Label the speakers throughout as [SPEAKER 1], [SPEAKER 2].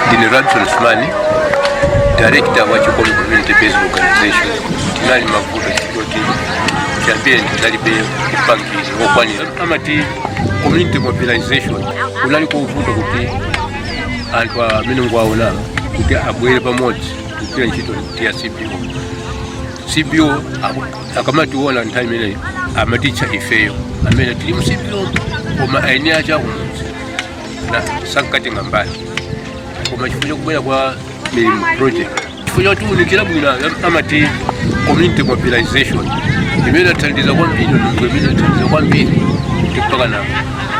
[SPEAKER 1] ndine radson smani director wa chikondi community based organization tinali mavuto chikoti chambiri tinalibe upangiri wokwanira amati community mobilization kunali kovuta kuti anthu amene mukuwaona kuti abwere pamodzi kugwira ntchito ya cbo cbo aku- akamationa nthawi imeneyi amatitcha ifeyo amene tili mu cbo koma eni ake akumudzi ena sankatenga mbali koma chifukwa chakubwera kwa milimo project chifukwa choti unikira bwino am- amati community mobilization imene inathandiza kwambiri ndondomeko imene inathandiza kwambiri kuti mpaka na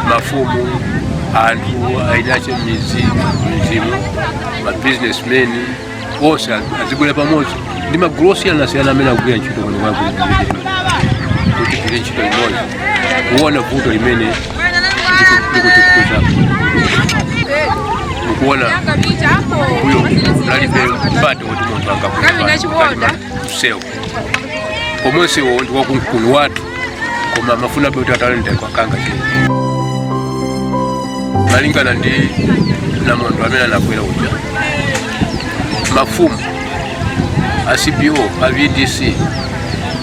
[SPEAKER 1] mafumu anthu ainache mizi mizimu mabusinessmen onse azibwera pamodzi ndi magulu osiyanasiyana amene akugwira ntchito kuno kwakuliii ndipo kutuko chikuto chako mukuona uyo nalibe mpata woti munthu angakuaa msewu koma msewu ndi waukulu wathu koma amafuna kuti atalende kwakanga ke malingana ndi namondwe amene anabwera uja mafumu a cbo a vdc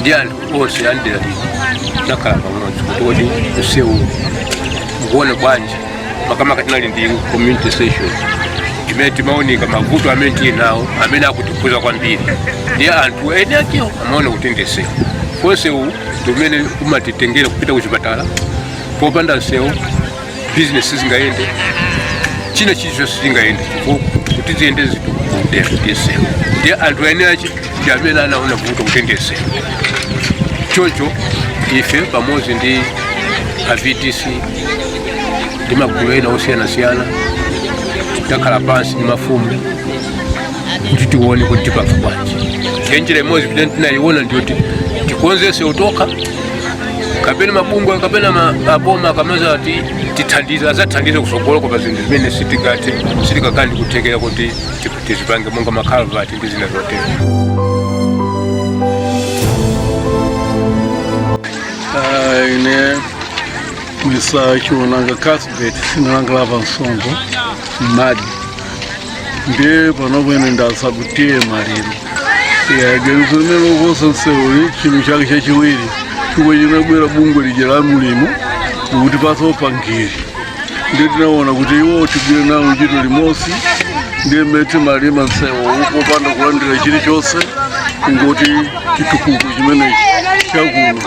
[SPEAKER 1] ndi anthu onse am'dera anakhala pamodzi kuti kodi msewu mukuona bwanji makamaka tinali ndi community session imene timaunika mavuto amene tili nawo amene akutikhudza kwambiri ndi anthu eni akewo amaona kuti ndi msewu chifukwa msewu ndi umene umatitengera kupita kuchipatala popanda msewu business singayende china chilichonse sichingayende chitukuko kuti ziyende zitukuko ndi msewu ndiye anthu eni ake ndi amene anaona vuto kuti ndi msewu choncho ife pamodzi ndi a vdc ndi magulu ena osiyanasiyana takhala pansi ndi mafumu kuti tione kuti tipanga bwanji ndiye njira imodzi kuti tinayiona ndiyoti tikonze msewu tokha kapena mabungwe kapena ma- aboma akamadzati tithandize adzathandize kusogoloko pa zinthu zimene sitingathe sitingakhale ndi kuthekera kuti ti- tizipange monga makhalavati ndi zina
[SPEAKER 2] zotero Ah, ine misa chiwonanga kasbet sinalanga lava nsongo mmadzi ndiye panopa ine ndatsa kutiye maliro ganizo lokonza msewuli chinthu chake chachiwiri chomwe chinabwera bungwe lija la milimo kutipatsa upangiri ndiye tinaona kuti iwo tigwire nawo ntchito limodzi ndiye mmene timalima msewu popanda kulandira chilichonse kungoti chitukuko chimenechi chakuno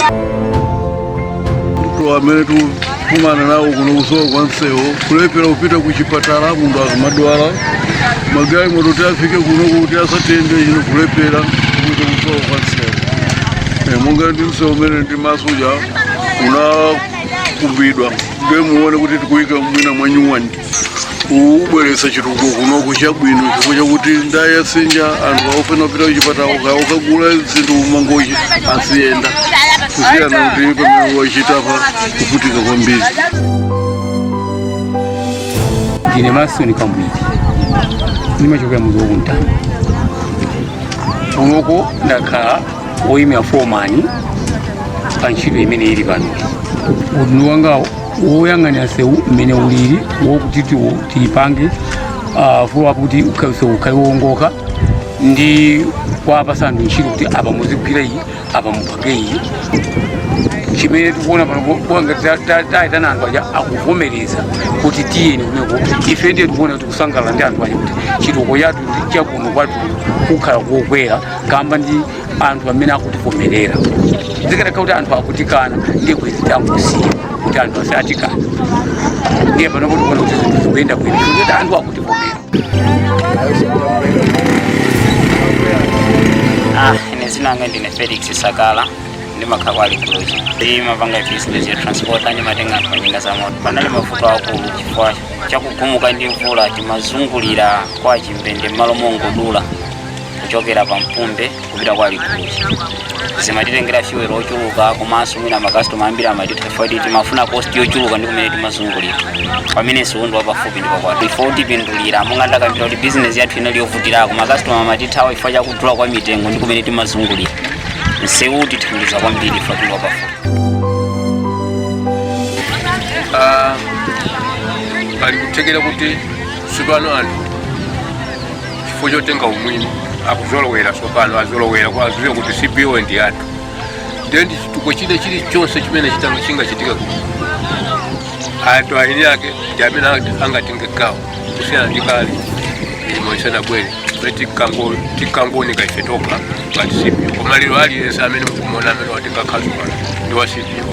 [SPEAKER 2] mavuto amene tikumana nawo kuno kusowa kwa msewu kulephera kupita ku chipatala munthu akamadwala magalimoto kuti afike kuno kuti asatende chino kulephera kuita kusowa kwa msewu Eh, monga ndi msewu umene ndi masuja unakumbidwa ndiye muone kuti tikuyika mwina mwanyuwani kubweretsa chitukuko kunoko chabwino chifukwa chakuti ndayasinja anthu akufuna kupita kuchipatala uka- ukagula zinthu Mangochi aziyenda kusiyana kuti pamene wachita pa kuvutika kwambiri
[SPEAKER 3] ndine Masoni Kambwiri ndimachokera muzi wakuntani kunoko ndakhala woyimira fomani pa ntchito imene ili pano udindo wangawo woyang'anira nsewu mmene ulili wokuti tiwo tiyipange ah, fulu apo kuti ukha- nsewu ukhale wowongoka ndi kuwapasa anthu ntchito kuti apa muzigwira iyi apa mupange iyi chimene tikuona pano ku- kuwa ngati ta- ta- tayitana anthu aja akuvomereza kuti tiyeni kuneko ife ndiye tikuona kuti kusangalala ndi anthu aja kuti chitukuko chathu chakuno kwathu kukhala kokwera kamba ndi anthu amene akutivomerera zikanakhala kuti anthu akutikana ndiye bwezi tangosiya kuti anthu onse atikana ndiye pano tikuona kuti zinthu zikuyenda bwino kuti anthu akutivomera
[SPEAKER 4] Ah, ine zina langa ndine Felix Sakala ndimakhala kwa Likuluzi. Ndimapanga business ya transport ndimatenga anthu njinga za moto. Panali mavuto akulu chifukwa chakugumuka ndi mvula timazungulira kwa Chimbende m'malo mongodula. kuchokera pa Mpumbe kupita kwa Likuluzi zimatitengera fuel ochuluka komanso mwina makastoma ambiri amatithawa poti timafuna cost yochuluka ndi kumene timazungulira pamene msewu ndi wapafupi ndipo kwathu ife utipindulira monga ndakambira kuti bizinesi yathu inali yovutirako makastoma amatithawa chifukwa cha kudula kwa mitengo ndi kumene timazungulira msewu utithandiza kwambiri ife poti ndi wapafupi
[SPEAKER 1] Ah, pali kuthekera kuti tsopano anthu chifukwa chotenga umwini akuzolowera tsopano azolowera kwa aziwe kuti CBO ndi yathu ndiye ndi chitukuko china chilichonse chimene chitanga- chingachitika ku anthu eni ake ndi amene anga- angatenge gawo kusiyana ndi kale imo isanabwere kuti tikango- tikangooneka ife tokha ngati CBO koma lero aliyense amene mukumuona amene watenga khasu pano ndi wa CBO